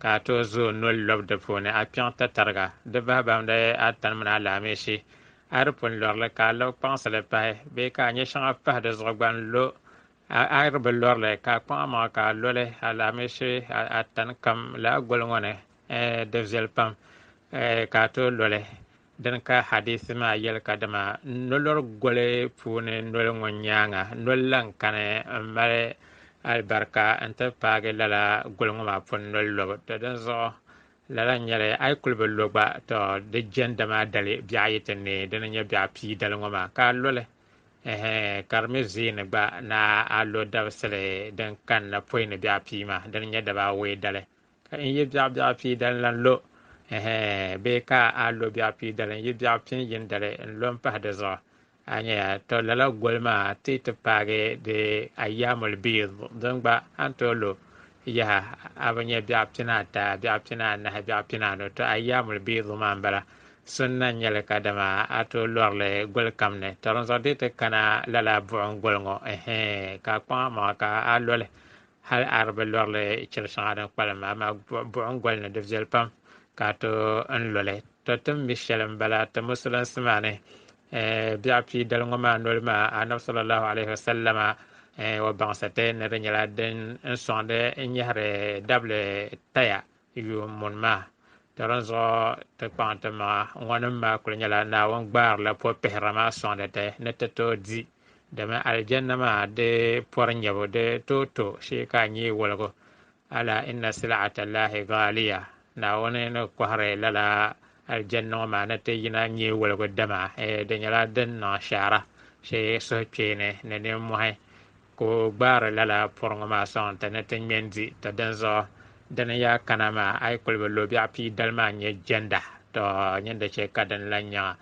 ka a tooi zo noli lɔbu di puuni, a kpiɛŋ ti tariga di bahi bahimda a tani mini alaamisi. A di pun lɔri li, ka a labi kpaŋsi li pahi bee ka a nyɛ shɛŋa pahi di zuɣu gba n-lo. A a di bi lɔri li, ka a kpaŋ a maŋa ka a lo li alaamisi a tani kam lala goli ŋɔ ni, eh, di viɛli pam, eh, ka a tooi lo li. Dini ka hadithi maa yɛli ka dama nolor goli puuni noli ŋɔ nyaaŋa noli lan kani m-mali alibarika n-ti paagi lala goli ŋɔ maa pun noli lobu. Tɔ dinzuɣu lala nyɛli a yi kuli bi lo gba, tɔ di jɛndi maa dali biɛɣ ayi ti neei dini nyɛ biɛɣ pii dali ŋɔ maa ka a lo li. Ɛhɛ, ka di mi zee ni gba ni a lo dabisili din kanna pɔi ni biɛɣ pii maa dini nyɛ daba awɔi dali. Ka n yi biɛɣu biɛɣu pii dali lan lo, ɛhɛ, bee ka a lo biɛɣu pii dali n-yi biɛɣu pin yini dali n-lo m-pahi di zuɣu, a nya ya, tɔ lala goli maa ti ti paagi di Ayyaamul Biid, din gba a ni tooi lo yaha a bi nya biɛɣu pina ata, biɛɣu pina anahi, biɛɣu pina anu, tɔ Ayyaamul Biid maa m-bala, sunna n-nyɛ li ka dama a tooi lɔri li goli kam ni. Tɔ dinzuɣu di ti kana lala buɣim goli ŋɔ, ɛhɛ, ka a kpaŋ a maŋa ka a lo li, Hal a di bi lɔrili chiri shɛŋa din kpalim maa, amaa buɣim goli ni di viɛli pam ka a ti n lo li. To ti ni mi shɛli m-bala ti Musulinsi maa ni, eh, biɛɣu pii dali ŋɔ maa noli maa, Annabi sallallahu alaihi wa sallama, eh, o baŋsi ti ni di nyɛla din n sɔŋdi n nyɛhiri dabili taya yuun muni maa. Di dinzuɣu ti kpaŋ ti maŋa ŋɔnim maa kuli nyɛla Naawuni gbaarila pɔpihira maa sɔŋdi ti ni ti tooi di. Dama Aljanna maa di pɔri nyabu di tooi to shee ka a nyee woligu. Ala inna sil'ata Allahi ghaaliya, Naawuni ni kɔhiri lala Aljanna ŋɔ maa ni ti yina nyee woligu dama di nyɛla din niŋ shaara shee suhukpeeni ni nimmɔhi. Ka o gbaari lala pɔri ŋɔ maa sɔŋ nti ni ti ŋme n-di tɔ dinzuɣu dini yaa kana maa a yi kuli bi lo biɛɣu pii dali maa n-nyɛ jɛnda tɔ nyin di chɛ ka dini lan nyaŋa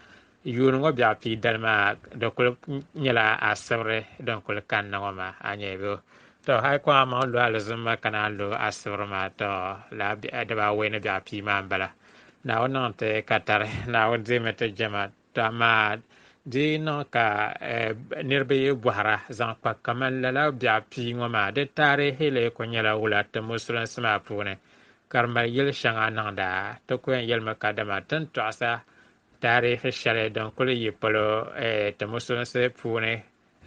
yuun ŋɔ biɛɣu pii dali maa di kuli nyɛla a sibiri din kuli kanna ŋɔ maa a nyɛ bɛ tɔ a yi kɔŋ a maŋ lo alizumma ka naan lo a sibiri maa tɔ lala biɛɣu dibaawei ni biɛɣu pii maa m-bala Naawuni niŋ nti ka tari Naawuni dihimi ti jɛma To amaa di niŋ ka eh, niriba yi bɔhira zaŋ kpa kaman lala biɛɣu pii ŋɔ maa, di taarihi lee kul nyɛla wula ti musulinsi maa puuni, ka di mali yil shɛŋa niŋda? Ti ku yɛn yɛlimi kadama ti ni tɔɣisa taarihi shɛli din kul yi polo eh, ti musulinsi puuni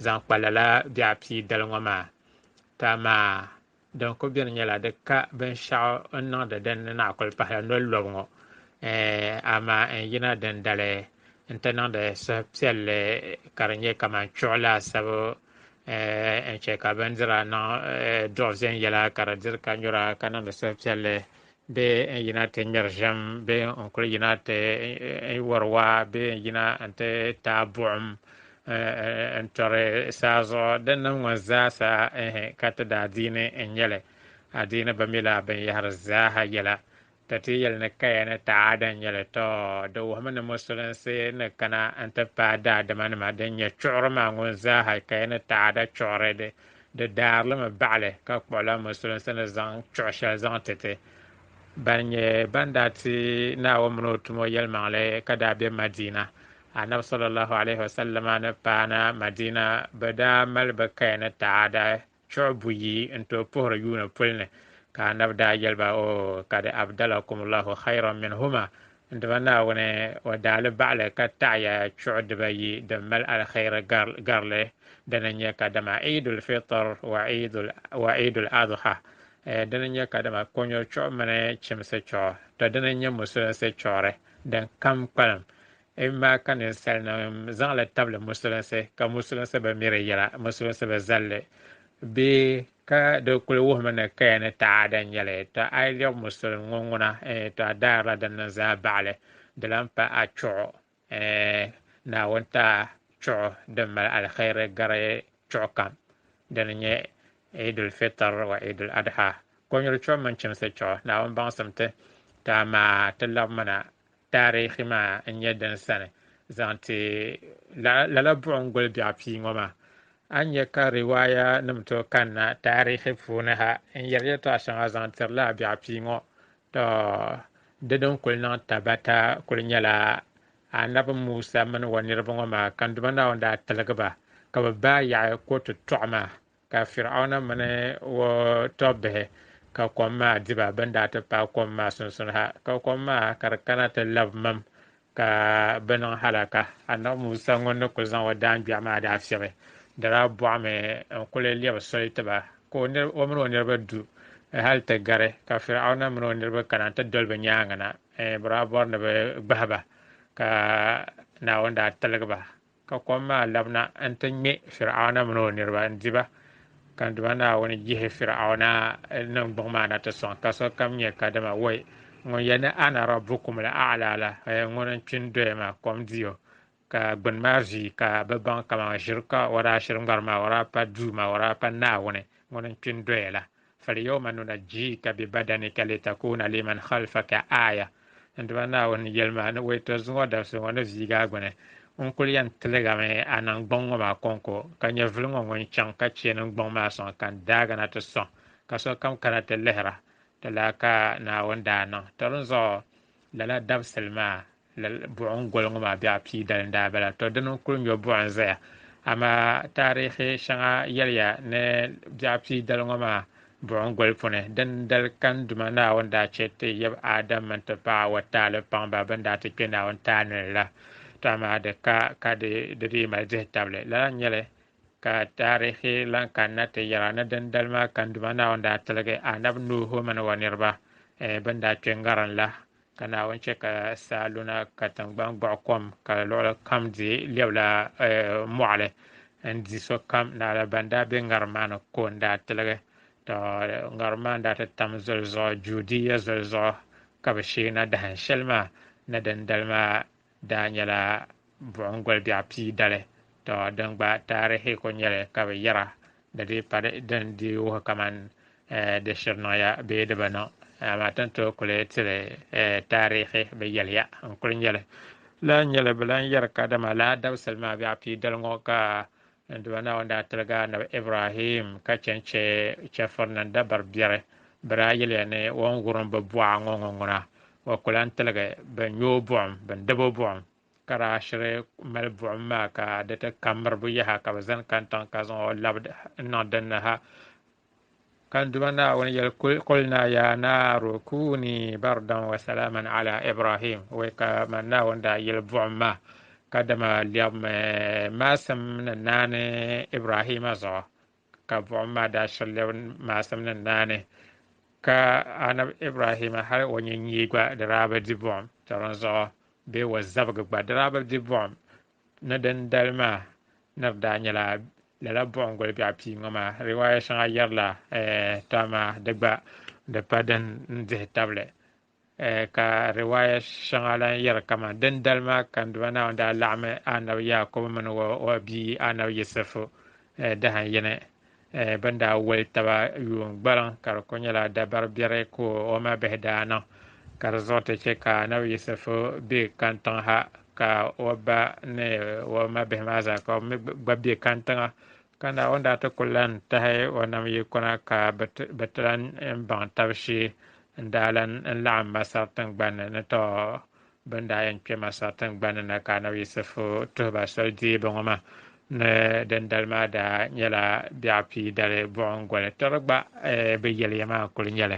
zaŋ kpa lala biɛɣu pii dali ŋɔ maa. To amaa Din kuli beni nyɛla di ka binshɛɣu n niŋdi din ni naa kuli pahila noli lɔbu ŋɔ eh, amaa n yina dindali n ti niŋdi suhupiɛlli ka di nyɛ kamani chuɣu laasabu eh, n chɛ ka bindira niŋ eh, duɣu viɛnyɛla ka di diri ka nyura ka niŋdi suhupiɛlli bee n yina ti ŋmɛri ʒiɛm bee n kuli yina ti wari waa bee n yina n ti taai buɣim n tɔri saa zuɣu din niŋ ŋɔ zaasa ka ti daa diini n nyɛli adiini bi mi la binyɛhiri zaaha yɛla ti ti yɛli ni kaya ni taada n nyɛli tɔ di wuhimi ni musulinsi ni kana n ti paai daadimanima din nyɛ chuɣuri maa ŋun zaaha kaya ni taada chuɣuri di Di daarilimi baɣali ka kpuɣila musulinsi ni zaŋ chuɣu shɛli zaŋ ti ti ban nyɛ ban daa ti Naawuni mini o tumo yɛlimaŋli ka daa be Madiina. Annabi sallallahu alayhi wa sallama ni paana Madiina bɛ daa mali bɛ kaya ni taada chuɣu buyi n-tooi puhiri yuuni puli ni, ka Annabi daa yɛli ba, O ka di abdalakumullahu khayran minhuma, N Duuma Naawuni, o daa li baɣili ka taɣiya chuɣu dibayi din mali aliheri garili, dini n-nyɛ kadama Eidul Fitr wa Eidul Adha, dini n-nyɛ kadama konyuri chuɣu mini chimsi chuɣu, tɔ dini n-nyɛ Musulinsi chuɣuri din kam kpalim. Amaa ka ninsalinim zaŋ li tabili Musulinsi, ka Musulinsi bi mi di yɛla, Musulinsi bi zal li bee Ka di kuli wuhimi ni kaya ni taada n-nyɛ li. Tɔ a yi lɛb Musulim ŋɔ ŋuna, eh, tɔ a daarila din niŋ zaa baɣi li, di lan pa a chuɣu, eh, Naawuni ti a chuɣu din mali alihɛiri gari chuɣu kam, din n-nyɛ Eidul Fitir wa Eidul Adha, kɔnyuri chuɣu mini chimsi chuɣu. Naawuni baŋsim ti, ti amaa ti labimina taarihi maa n-nyɛ din sani zaŋ ti lala buɣim goli biɛɣu pia ŋɔ maa. A ni nya ka riwaaya nim tooi kanna taarihi puuni ha n-yɛri yɛltɔɣa shɛŋa zaŋ tiri lala biɛɣu pia ŋɔ, tɔ! Di din kul niŋ tabata kul nyɛla Anabi Musa mini o niriba ŋɔ maa ka Duuma Naawuni daa tiligi ba ka bɛ baai yaɣi ko tutɔɣu maa Ka Fir'auna mini o tɔbbihi ka kom maa di ba, bɛn daa ti paai kom maa sunsuni ha, ka kom maa ka di kana ti lab mam, ka bɛ niŋ halaka. Annabi Musa ŋun ni kul zaŋ o daangbɛɣu maa daa fiɛbi dara buɣimi n-kul lɛbi soli ti ba, ka o mini o niriba du hal ti gari, ka Fir'auna mini o niriba kana nti doli bɛ nyaaŋa na, bɛ daa bɔri ni bɛ gbahi ba, ka Naawuni daa tiligi ba. Ka kom maa labina n-ti ŋme Fir'auna min o niriba n-di ba, ka n Duuma Naawuni yihi Fir'auna niŋgbuŋ maa na ti sɔŋ, ka sokam nyɛ kadama woi ŋun yɛl ni Ana Rabbukumul A'la la, haya ŋun n-kpi n-doya maa, kom di o, ka gbini maa viigi ka bɛ baŋ kaman ʒiri ka o daa shiri ŋariŋ maa o daa pa Duuma, o daa pa Naawuni ŋun n-kpi n-doya la. Falyawma nunajjika bi badanika litakuna liman khalfaka aaya. N Duuma Naawuni yɛli ma ni o yi tɔri zuŋɔ dabisi ŋɔ ni viigi a gbini, n kul yɛn tiligami a niŋ gbuŋ ŋɔ maa kɔŋko, ka nyɛvili ŋɔ ŋun chaŋ ka chɛ ni n gbuŋ maa sɔŋ ka n daagi na ti sɔŋ ka sokam kana ti lihira, di laa ka Naawuni daa niŋ tɔri n zuɣu. Lala dabisili maa lala buɣim goli ŋɔ maa biɛɣu pii dali n-daa bala. To dini n-kul nyo buɣa n-zaya, amaa taarihi shɛŋa yɛliya ni biɛɣu pii dali ŋɔ maa buɣim goli puni din dali ka n Duuma Naawuni daa chɛ ti yab Adam min ti paɣ Awa taali paŋ ba bɛn daa ti kpe Naawuni taali ni la. To amaa di ka ka di dii mali dihitabili. Lala n-nyɛ li Ka taarihi lan kanna ti yɛra ni dindali maa kanduma Naawuni daa tiligi anabi Nuuhu mini o niriba eh, bɛn daa kpe ŋarin la. Ka Naawuni chɛ ka saa luna ka tiŋgbani gbuɣi kom, ka luɣili kam di lɛbila eh, mɔɣili n-di sokam. Naɣila ban daa be ŋarim maa ni ko n-daa tiligi. Tɔ! Ŋarim maa n-daa ti tam zoli zuɣu, Juudiya zoli zuɣu ka bɛ sheei na dahin shɛli maa ni dindali maa. daa nyɛla buɣim goli biɛɣu pii dali, tɔ din gba taarihi ko nyɛli ka bɛ yɛra di dii pa din dii wuhi kaman eh, di shiri niŋya bee di bi niŋ. Eh, amaa ti ni tooi kuli tili eh, taarihi bɛ yɛliya n-kuli nyɛli. Lala nyɛli bɛ lan yɛri kadama laa dabisili maa biɛɣu pii dali ŋɔ ka N Duuma Naawuni daa tiligi Annabi Ibrahim ka chɛ n-chɛ chɛfurina n dabari biɛri. Bɛ daa yɛliya ni o ni wurim bɛ buɣa ŋɔ ŋɔ ŋuna, o ku lan tiligi bɛ nyu o buɣim, bɛ ni dab o buɣim, ka daa shiri mali buɣim maa ka di ti ka miribu yaha ka bɛ zani kani tiŋa ka zaŋ o labi n-niŋ din ni ha. ka Duuma Naawuni yɛli kul naa yaa naaru kuuni bardan wa salaaman ala Ibrahim wɛ ka man Naawuni daa yɛli buɣim maa ka dama lɛbimi maasim ni naani Ibrahima zuɣu ka buɣim maa daa shiri lɛbi maasim ni naani ka anabi Ibrahima hali o nyɛ nyee gba di daa bi di buɣim tɔrin zuɣu bee o zabigi gba di daa bi di buɣim ni din dali maa ni di daa nyɛla lala buɣim goli biɛɣu pii ŋɔ maa riwaaya shɛŋa yɛrila tɔ amaa di gba di pa din dihi tabili ka riwaaya shɛŋa lan yɛri kaman din dali maa kandiba Naawuni daa laɣimi Anabi Yaakubu mini o bia Anabi Yisifu dahan yini Eh, bɛn daa wali taba yuun gbaliŋ ka di kuli nyɛla dabari biɛri ka o ma bihi daa niŋ ka di zuɣu ti chɛ ka Nabi Yisifu be kantiŋ ha ka o ba ni o ma bihi maa zaa ka o mi gba be kantiŋa ka na o ni daa ti kuli lan tahi o nam yi kɔna ka bɛ ti lan baŋ tab shee n daa lan n laɣim Masar tiŋgbani ni tɔ Bɛ ni daa yɛn kpe Masar tiŋgbani na ka Anabi Yisifu tuhi ba soli deebu ŋɔ maa ni dindali maa daa nyɛla biɛɣu pii dali buɣim goli tiri gba bɛ yɛliya maa kuli nyɛli.